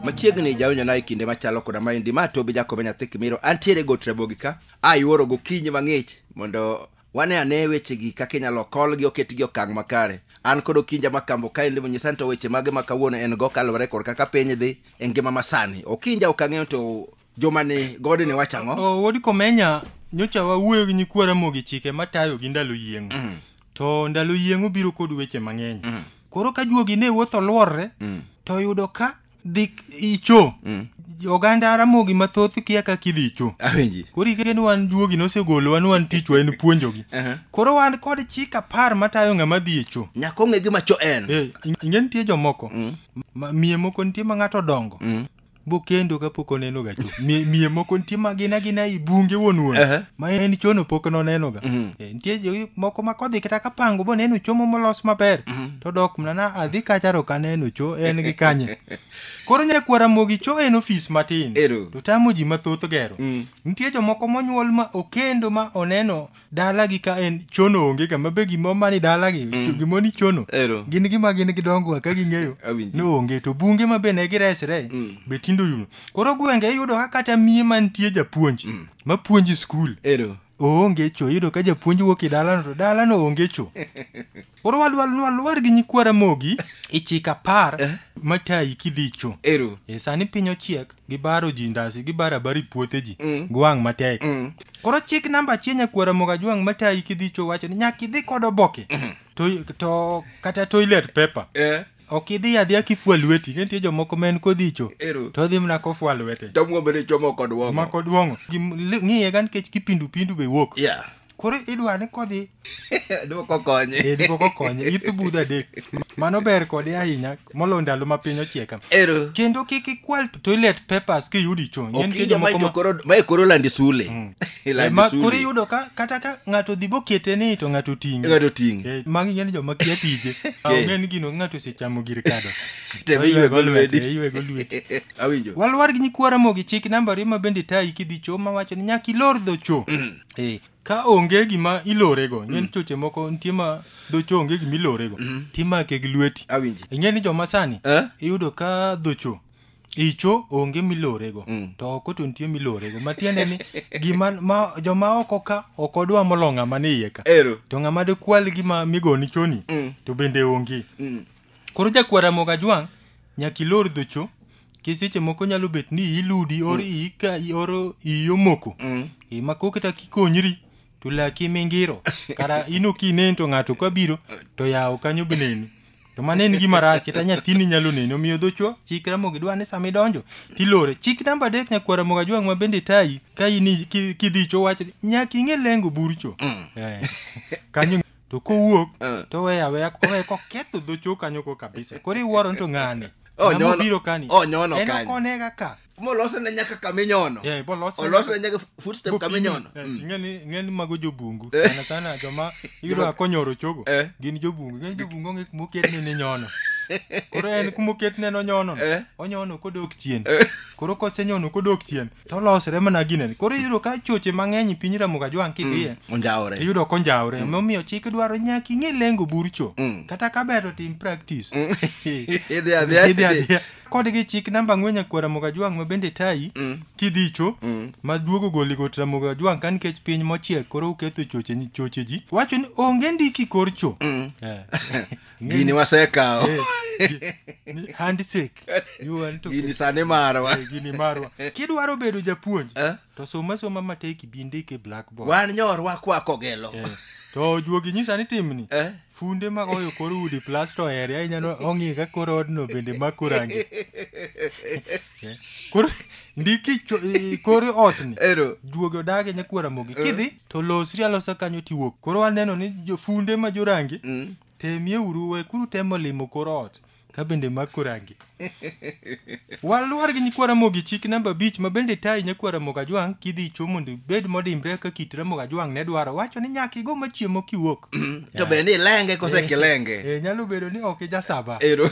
machiegni jawinjo na e kinde machalo koda maendi ma tobi jakobe nyathi kimiro antiere got rabogi ka ayuoro gokinyi mang'ich mondo wane ane wechegi kaka inyalo kolgi oketgi e okang' makare an kod okinja makambo ka en limo nyisa ni to weche mage ma kawuono en go kaluwore kod kaka piny dhi e ngima masani okinja ok ang'eyo to joma ni gode ne wacho ang'o O, Wuod Komenya, nyocha wawuoyo gi nyikwa Ramogi chike matayo gi ndalo yieng'o. Mm. To ndalo yieng'o biro kod weche mang'eny. Mm. Koro ka juogi ne wuotho luorre, Mm. to yudo ka dhi icho mm. oganda ramogi mathoth kia kaka idhi icho awinji koro ikeke ni wan juogi nosegolowa ni wan tichwa en puonjogi uh -huh. koro wan kod chik apar matayo ng'ama dhi icho nyaka ong'e gima cho en hey, eh, ing'e nitie jomoko mm. ma, miye moko nitie ma ng'ato dongo mm. bokendo kapok oneno ga cho miye moko nitie ma gina gina i bunge wuon wuon uh -huh. ma en chono pok noneno ga mm -hmm. Eh, nitie jo- moko ma kodhi kata ka pango boneno cho mo molos maber to dok mna na adhi kacha to kaneno cho en gi kanye koro nyakwara mogi cho en ofis matin Ero. to tamo ji mathoth gero Mm. nitie jomoko monyuol ma okendo ma oneno dalagi ka en chono onge kama be gimo mani dalagi gimo ni chono Ero. gin gima gin gidongo ka ging'eyo Awinji. no onge to bunge ma be ne giresre Mm. be tindo yuno koro gwenge iyudo ka kata miye mantie japuonj mapuonji skul Ero. oonge cho iyudo ka japuonj wuok e dalano to dalano onge cho koro wadwa nwaluar gi nyikwa ramogi e chik apar matayi kidhi cho Ero. e sani piny ochiek gibaro ji ndasi gibaro abari puothe ji Mm. gwang' matek Mm. koro chik namba achiel nyakwa ramoga jwang' matayi kidhi cho wacho ni nyaka idhi kod oboke to, to kata toilet paper Eh. Ok idhi adhiya kifwa lweti, ne nitie jomoko ma en kodhicho Ero. to odhi mana kofwa lwete. To muombe ni chomo kod wongo. Mako duong'o. Gim- li- Ng'iye ga nikech kipindu pindu be wuok. Yeah. Koro idwa ni kodhi Dwoko konye. e diko kokonye ithu budho adek. Mano ber kode ahinya molo ndalo ma piny ochieka. Ero. Kendo kik ikwal toilet papers kiyudi chon. Ng'e nitie Okinja ma jomoko ma- ijo koro ma e koro landi sule. Iland Ma- sulwe. koro iyudo ka kata ka ng'ato dhi bokete ni to ng'ato ting'e Ng'ato ting'e. Eh, magi ng'eni joma kia tije Eh. ng'e ni gino ng'ato osechamo gir kado Tebe To iywego lweti. eh, iywego lweti Awinjo. walwar gi nyikwa ramogi chik namba ariyo ma bende tayi kidhi cho ma wacho ni nyaka ilor dho cho Eh, ka onge gima ilorego ng'en choche moko nitie ma dho cho onge gima ilorego timake gi lweti Awinji. ing'e ni joma sani Eh? iyudo ka dho cho icho onge milorego mm. to oko to nitie milorego matiende ni gima ma, joma oko ka ok odwa molo ng'ama ni iye ka Ero. to ng'ama dekwal gima migoni choni mm. to bende onge mm. koro jakwar amoga jwang' nyaka ilor dhocho kiseche moko nyalo bet ni iludi or mm. ika or iyo moko mm. e, ma koketa kikonyri to laki mingiro kara in ok inen to ng'ato ka biro to yawo kanyo be neni to mano en gima rach kata nyathini nyalo neni omiyo dhochwo chik ramogi dwa ni sama idonjo tilore chik namba adek nyakwar ramogi ajwang' ma bende tayi ka in i- ki- kidhicho wach ni, nyaka ing'e lengo burcho Eh, kanyo to kowuok Eh. to weya weya owe koketho dhochwo kanyo ko kabisa koro iwuoro ni to ng'ane Oh, Ng'ama nyono. obiro kani Oh, nyono en kanyo. ok onega ka molose ne nyaka kaminyono Yeah, ibo lose olose ne nyaka footstep Gokinyi. kaminyono Eh, Mm. ing'eni ing'eni mago jobungu Eh. sana sana joma iyudo ka konyoro chogo Eh. gin jobungu ing'eni jobungu onge kuma oketne ni nyono koro en kuma oketne no nyono no, Eh. onyono kodok chien Eh. koro kosenyono kodok chien to olosre mana ginene koro iyudo ka choche mang'eny e piny ramoga jwang' kidhiye onjawore iyudo konjawre momiyo chik dwaro nyaka ing'e lengo burcho Mm. kata ka ber to tim practice idhi adhiya Idhi adhiya. kod gi chik namba ang'wen nyakwar Ramogi Ajwang' ma bende tayi Mm. kidhicho Mm. ma duogo goli got Ramogi Ajwang' ka nikech piny mochiek koro uketho choche ni- choche ji wacho ni onge ndiki korcho Mm. Eh. gini wasekawo Eh, ni handshake You want to- gini sani marwa Eh, gini marwa kidwaro bedo japuonj Eh? to soma soma matek ibi ndik e blackboard wan nyorwa kwako gelo Eh, to ojuogi nyisa ni timni Eh? funde ma oyo kor udi plas to ere ahinya no ong'i ka kor odno bende mako rangi Eh, koro ndiki cho- i- kor otni ero juogi odage nyakwara mogi kidhi to losri alosa kanyo tiwuok koro waneno ni jo- funde ma jorangi Mm. temie uru we kuru temo limo kor ot ka bende mako rangi waluor gi nyikwa ramogi chik namba abich ma bende tayi nyakwa ramogi ajwang' kidhi icho mondo ibed modimbre ka kit ramogi ajwang' ne dwaro wacho ni nyaka igo machiemo kiwuok to be ni lenge kose kilenge e, nyalo bedo ni ok ijasaba ero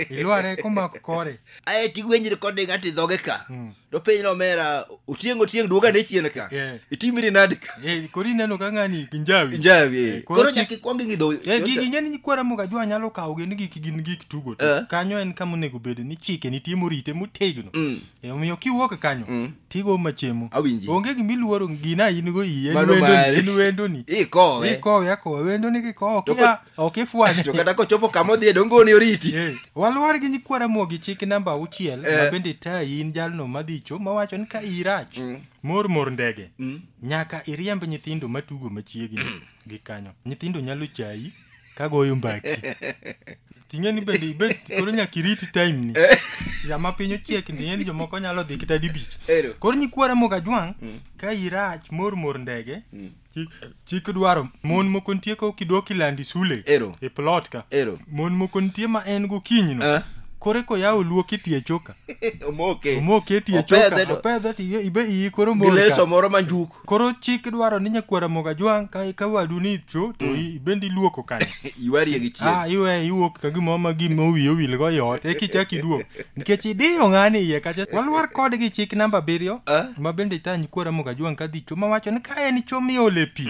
ilware komako kore aye tigwenyi recording ati dhoge ka to piny nomera otieng' otieng' duoga ne chien ka Yeah. itimiri nadi ka Eh, koro ineno ka ng'ani kinjawi njawi Eh, koro koro chak chik- ikwong ing'idho Eh, gigi ing'eni ni kwara moga jwa nyalo kawo gin gik gin gik tugo to Eh. kanyo en kama onego bed ni chike nitie morite motegno Mm. Eh, omiyo kiwuok kanyo Mm. tigo machiemo Awinji. onge gima iluoro gina in go iyi en Mano wendoni mari. en wendoni ikowe ikowe akowe wendoni kikowo To kia ko- ok ifwanye to kata kochopo kama odhiye donge oni oriti Eh, waluwar gi nyikwa ramogi chik namba auchiel Eh. ma bende tayi in jalno madhicho mawacho ni ka irach Mm. mor mor ndege Mm. nyaka iriemb nyithindo matugo machiegni gi kanyo nyithindo nyalo chayi ka goyo mbaki ting'e ni bende ibet koro nyaka iriti time ni sama piny ochiek ni en jomoko nyalo dhi kata dibich Ero. koro nyikwa ramogi ajwang' ka irach mor mor ndege Chi- chik dwaro mon moko nitie ka ok idwok ilandi sule Ero. e plot ka Ero. mon moko nitie ma en gokinyi no Eh. kore koyawo luok itie choka omoke omoke tie Opedhe choka to- opedhe to iye- ibe iyi koro gi mor leso ka. moro ma njuko koro chik dwaro ni nyakwara moga jwang' ka ka wadu ni cho to i- ibendi luoko kanyo Ywarie gi chien. Ah, iwe iwuok ka gimoro ma gima owiye owil go yot e kichak iduog nikech idiyo ng'ani iye kacha walwar kode gi chik namba abiriyo Ah. ma bende itany kuora mogajwang' ka dhi chuma wacho ni ka en chuma iole pi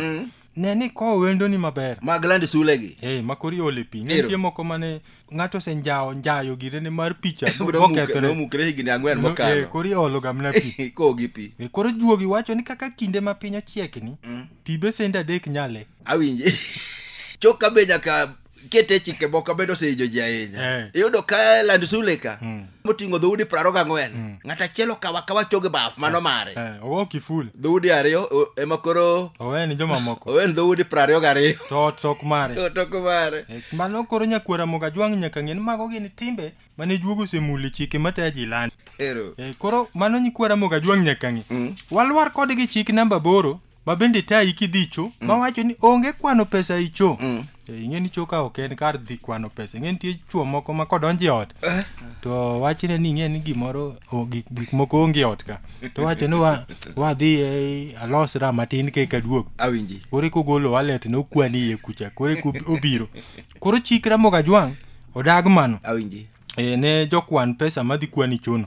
ne ni kowo wendoni maber Mag land sule gi. Hey, ma kori ole pi Ero. nitie moko mane ng'ato osenjawo njayo girene mar picha Nomukre- bokethre Nomukre higni ang'wen No, eh, mokalo. koro iolo gamna pi Kowo gi pi. Eh, koro juogi wacho ni kaka kinde ma piny ochiekni pi besende adek nyale awinje chok ka be nyaka kete chike moko bende osehijo ji ahinya Eh. iyudo ka land sule ka moting'o dhoudi praro gang'wen ng'at achiel okawa kawa choge baf mano mare Eh, ogo kiful dhoudi ariyo o- ema koro owe ni jomamoko owen dhoudi prariyo gariyo to ot tok mare otoko mare Eh, mano koro nyakwera moga jwang' nyaka ng'e ni mago gin timbe mane juogo osemuli chike matayo ji land ero Eh, koro mano nyikwera moga jwang' nyaka ng'e walwar kodgi chik namba boro ma bende tayi kidhicho mm. mawacho ni onge kwano pesa icho mm. Eh, ing'e ni choka ok en kar dhi kwano pesa ing'e nitie chuo moko ma kodonjo e ot eh. to wachne ni ing'e ni gimoro gik moko onge e ot ka to wacho ni wadhi e, alos ra matin keka duog koro kogolo walet ne okwani iye kucha koro obiro koro chikra mogajwang' odag mano e, ne jokwan pesa madhi kwani chono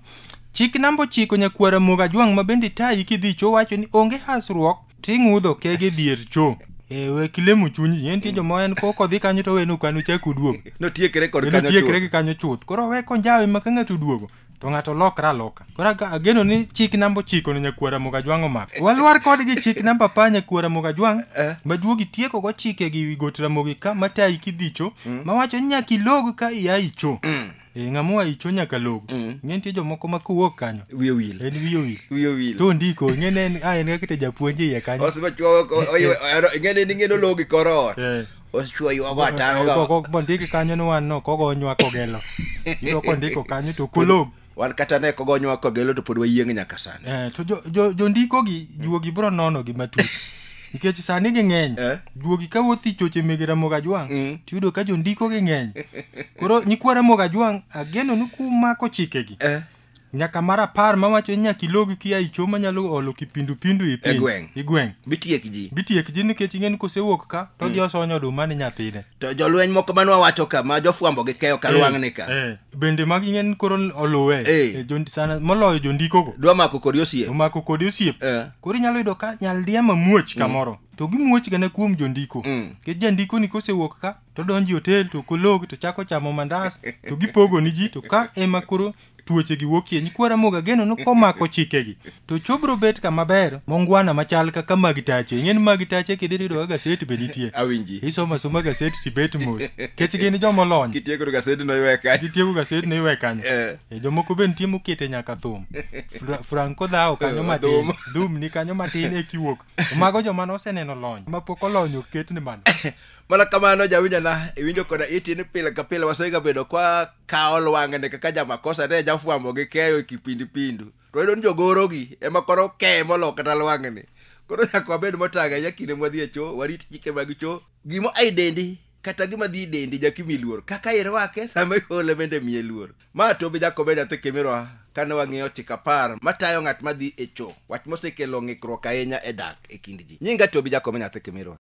chik namba ochiko nyakwara moga jwang' ma bende tayi kidhi cho wacho ni onge hasruok ting'udho kege dier cho e, we kilemo chunyi en tie joma en koko dhi kanyo to wenu kanu chak uduogo notiekre kod enotiekre kanyo gi kanyo chuth koro we konjawe ma ka ng'ato oduogo to ng'ato lokre aloka Kora ka ageno ni chik namba ochiko ni nyakwara Mugajwang' omak. Walwar kodgi chik namba apar nyakwara Mugajwang' Eh. maduogi tieko go chike gi wi got Ramogi ka matayi kidhicho mawacho ni nyaka ilog ka iya icho. Eh, ng'amoa icho nyaka log. Ing'e nitie jomoko ma kowuok kanyo. Wiye owil. En wiye owil. Wiye owil. To ndiko ing'e ne en ah, en kaka japuonj iye kanyo. Osechwoyo ko- oywe- oyro- ing'eni ni ing'eni ologi kor ot. Eh. Osechwoyo go ataro go. Koko bondiki kanyo ni wan no kogo onywako gelo. Yudo kondiko kanyo to kolog. wan kata ne kogonywa kogelo to pod wayieng' nyaka sani Eh, to jo- jo- jondikogi juogi biro nonogi matut nikech sani ging'eny Eh. juogi ka wuoth i choche mege ramogi ajwang' Mm. to yudo ka jondikogi ng'eny koro nyikwa ramogi ajwang' ageno ni kumako chikegi Eh, nyaka mar apar mawacho ni nyaka ilogi kia icho manyalo olo kipindupindu i piny- E gweng'. i gweng' bitiek ji bitiek ji nikech ing'e ni kosewuok ka to odhi osonyo oduma ni nyathine to jolweny moko manwa wacho ka ma jofwambo gi keyo kalwang'ni ka Eh, eh. bende magi ng'eny koro oluwe Eh. Eh, jo- sana moloyo jondikogo dwa mako kodi osie omako kodi osiep Eh. koro inyalo yudo ka nyaldiema muoch kamoro to gimuoch gana kuom jondiko Mm. nikech jandiko ni kosewuok ka to donjo e otel to kolog to chako chamo mandas to gipogo ni ji to ka ema koro tuoche gi wuok kienyi kwara moga geno no komako chike gi to chobro bet kama ber mongwana machal kaka mag tache ing'e ni mag tache kidhi to yudoga gaset be nitie awinji isoma soma gaset tibet mos kech gin jomolony kitiekoro gasedi noywe kanyo gitieko gaset no iwe kanyo Eh. e jomoko be nitie mokete nyaka thum Fra- franco dhawo kanyo Eh, matin dhum. dhum ni kanyo matin e kiwuok To mago joma noseneno lony mapok olony ok ketni mana mana kamano jawinjana iwinjo koda iti ni pile ka pile wasegabedo kwa kawo lwang'ne kaka jamakosa ne jafwambo gi keyo e kipindipindu to wayudo ni jogorogi ema koro keye molo kata lwang'ni koro nyaka wabed motang' ahinya kinde mwadhi e cho warit chike mag cho gimo ai dendi kata gima dhi dendi jakimi luor kaka irwake sama ihole bende miye luor ma to be jakobe nyathi kimirwa kane wang'iyo chik apar matayo ng'at madhi e cho wach mosekelo ng'ikruok ahinya e dak e kind ji nyinga to be jakobe nyathi kimirwa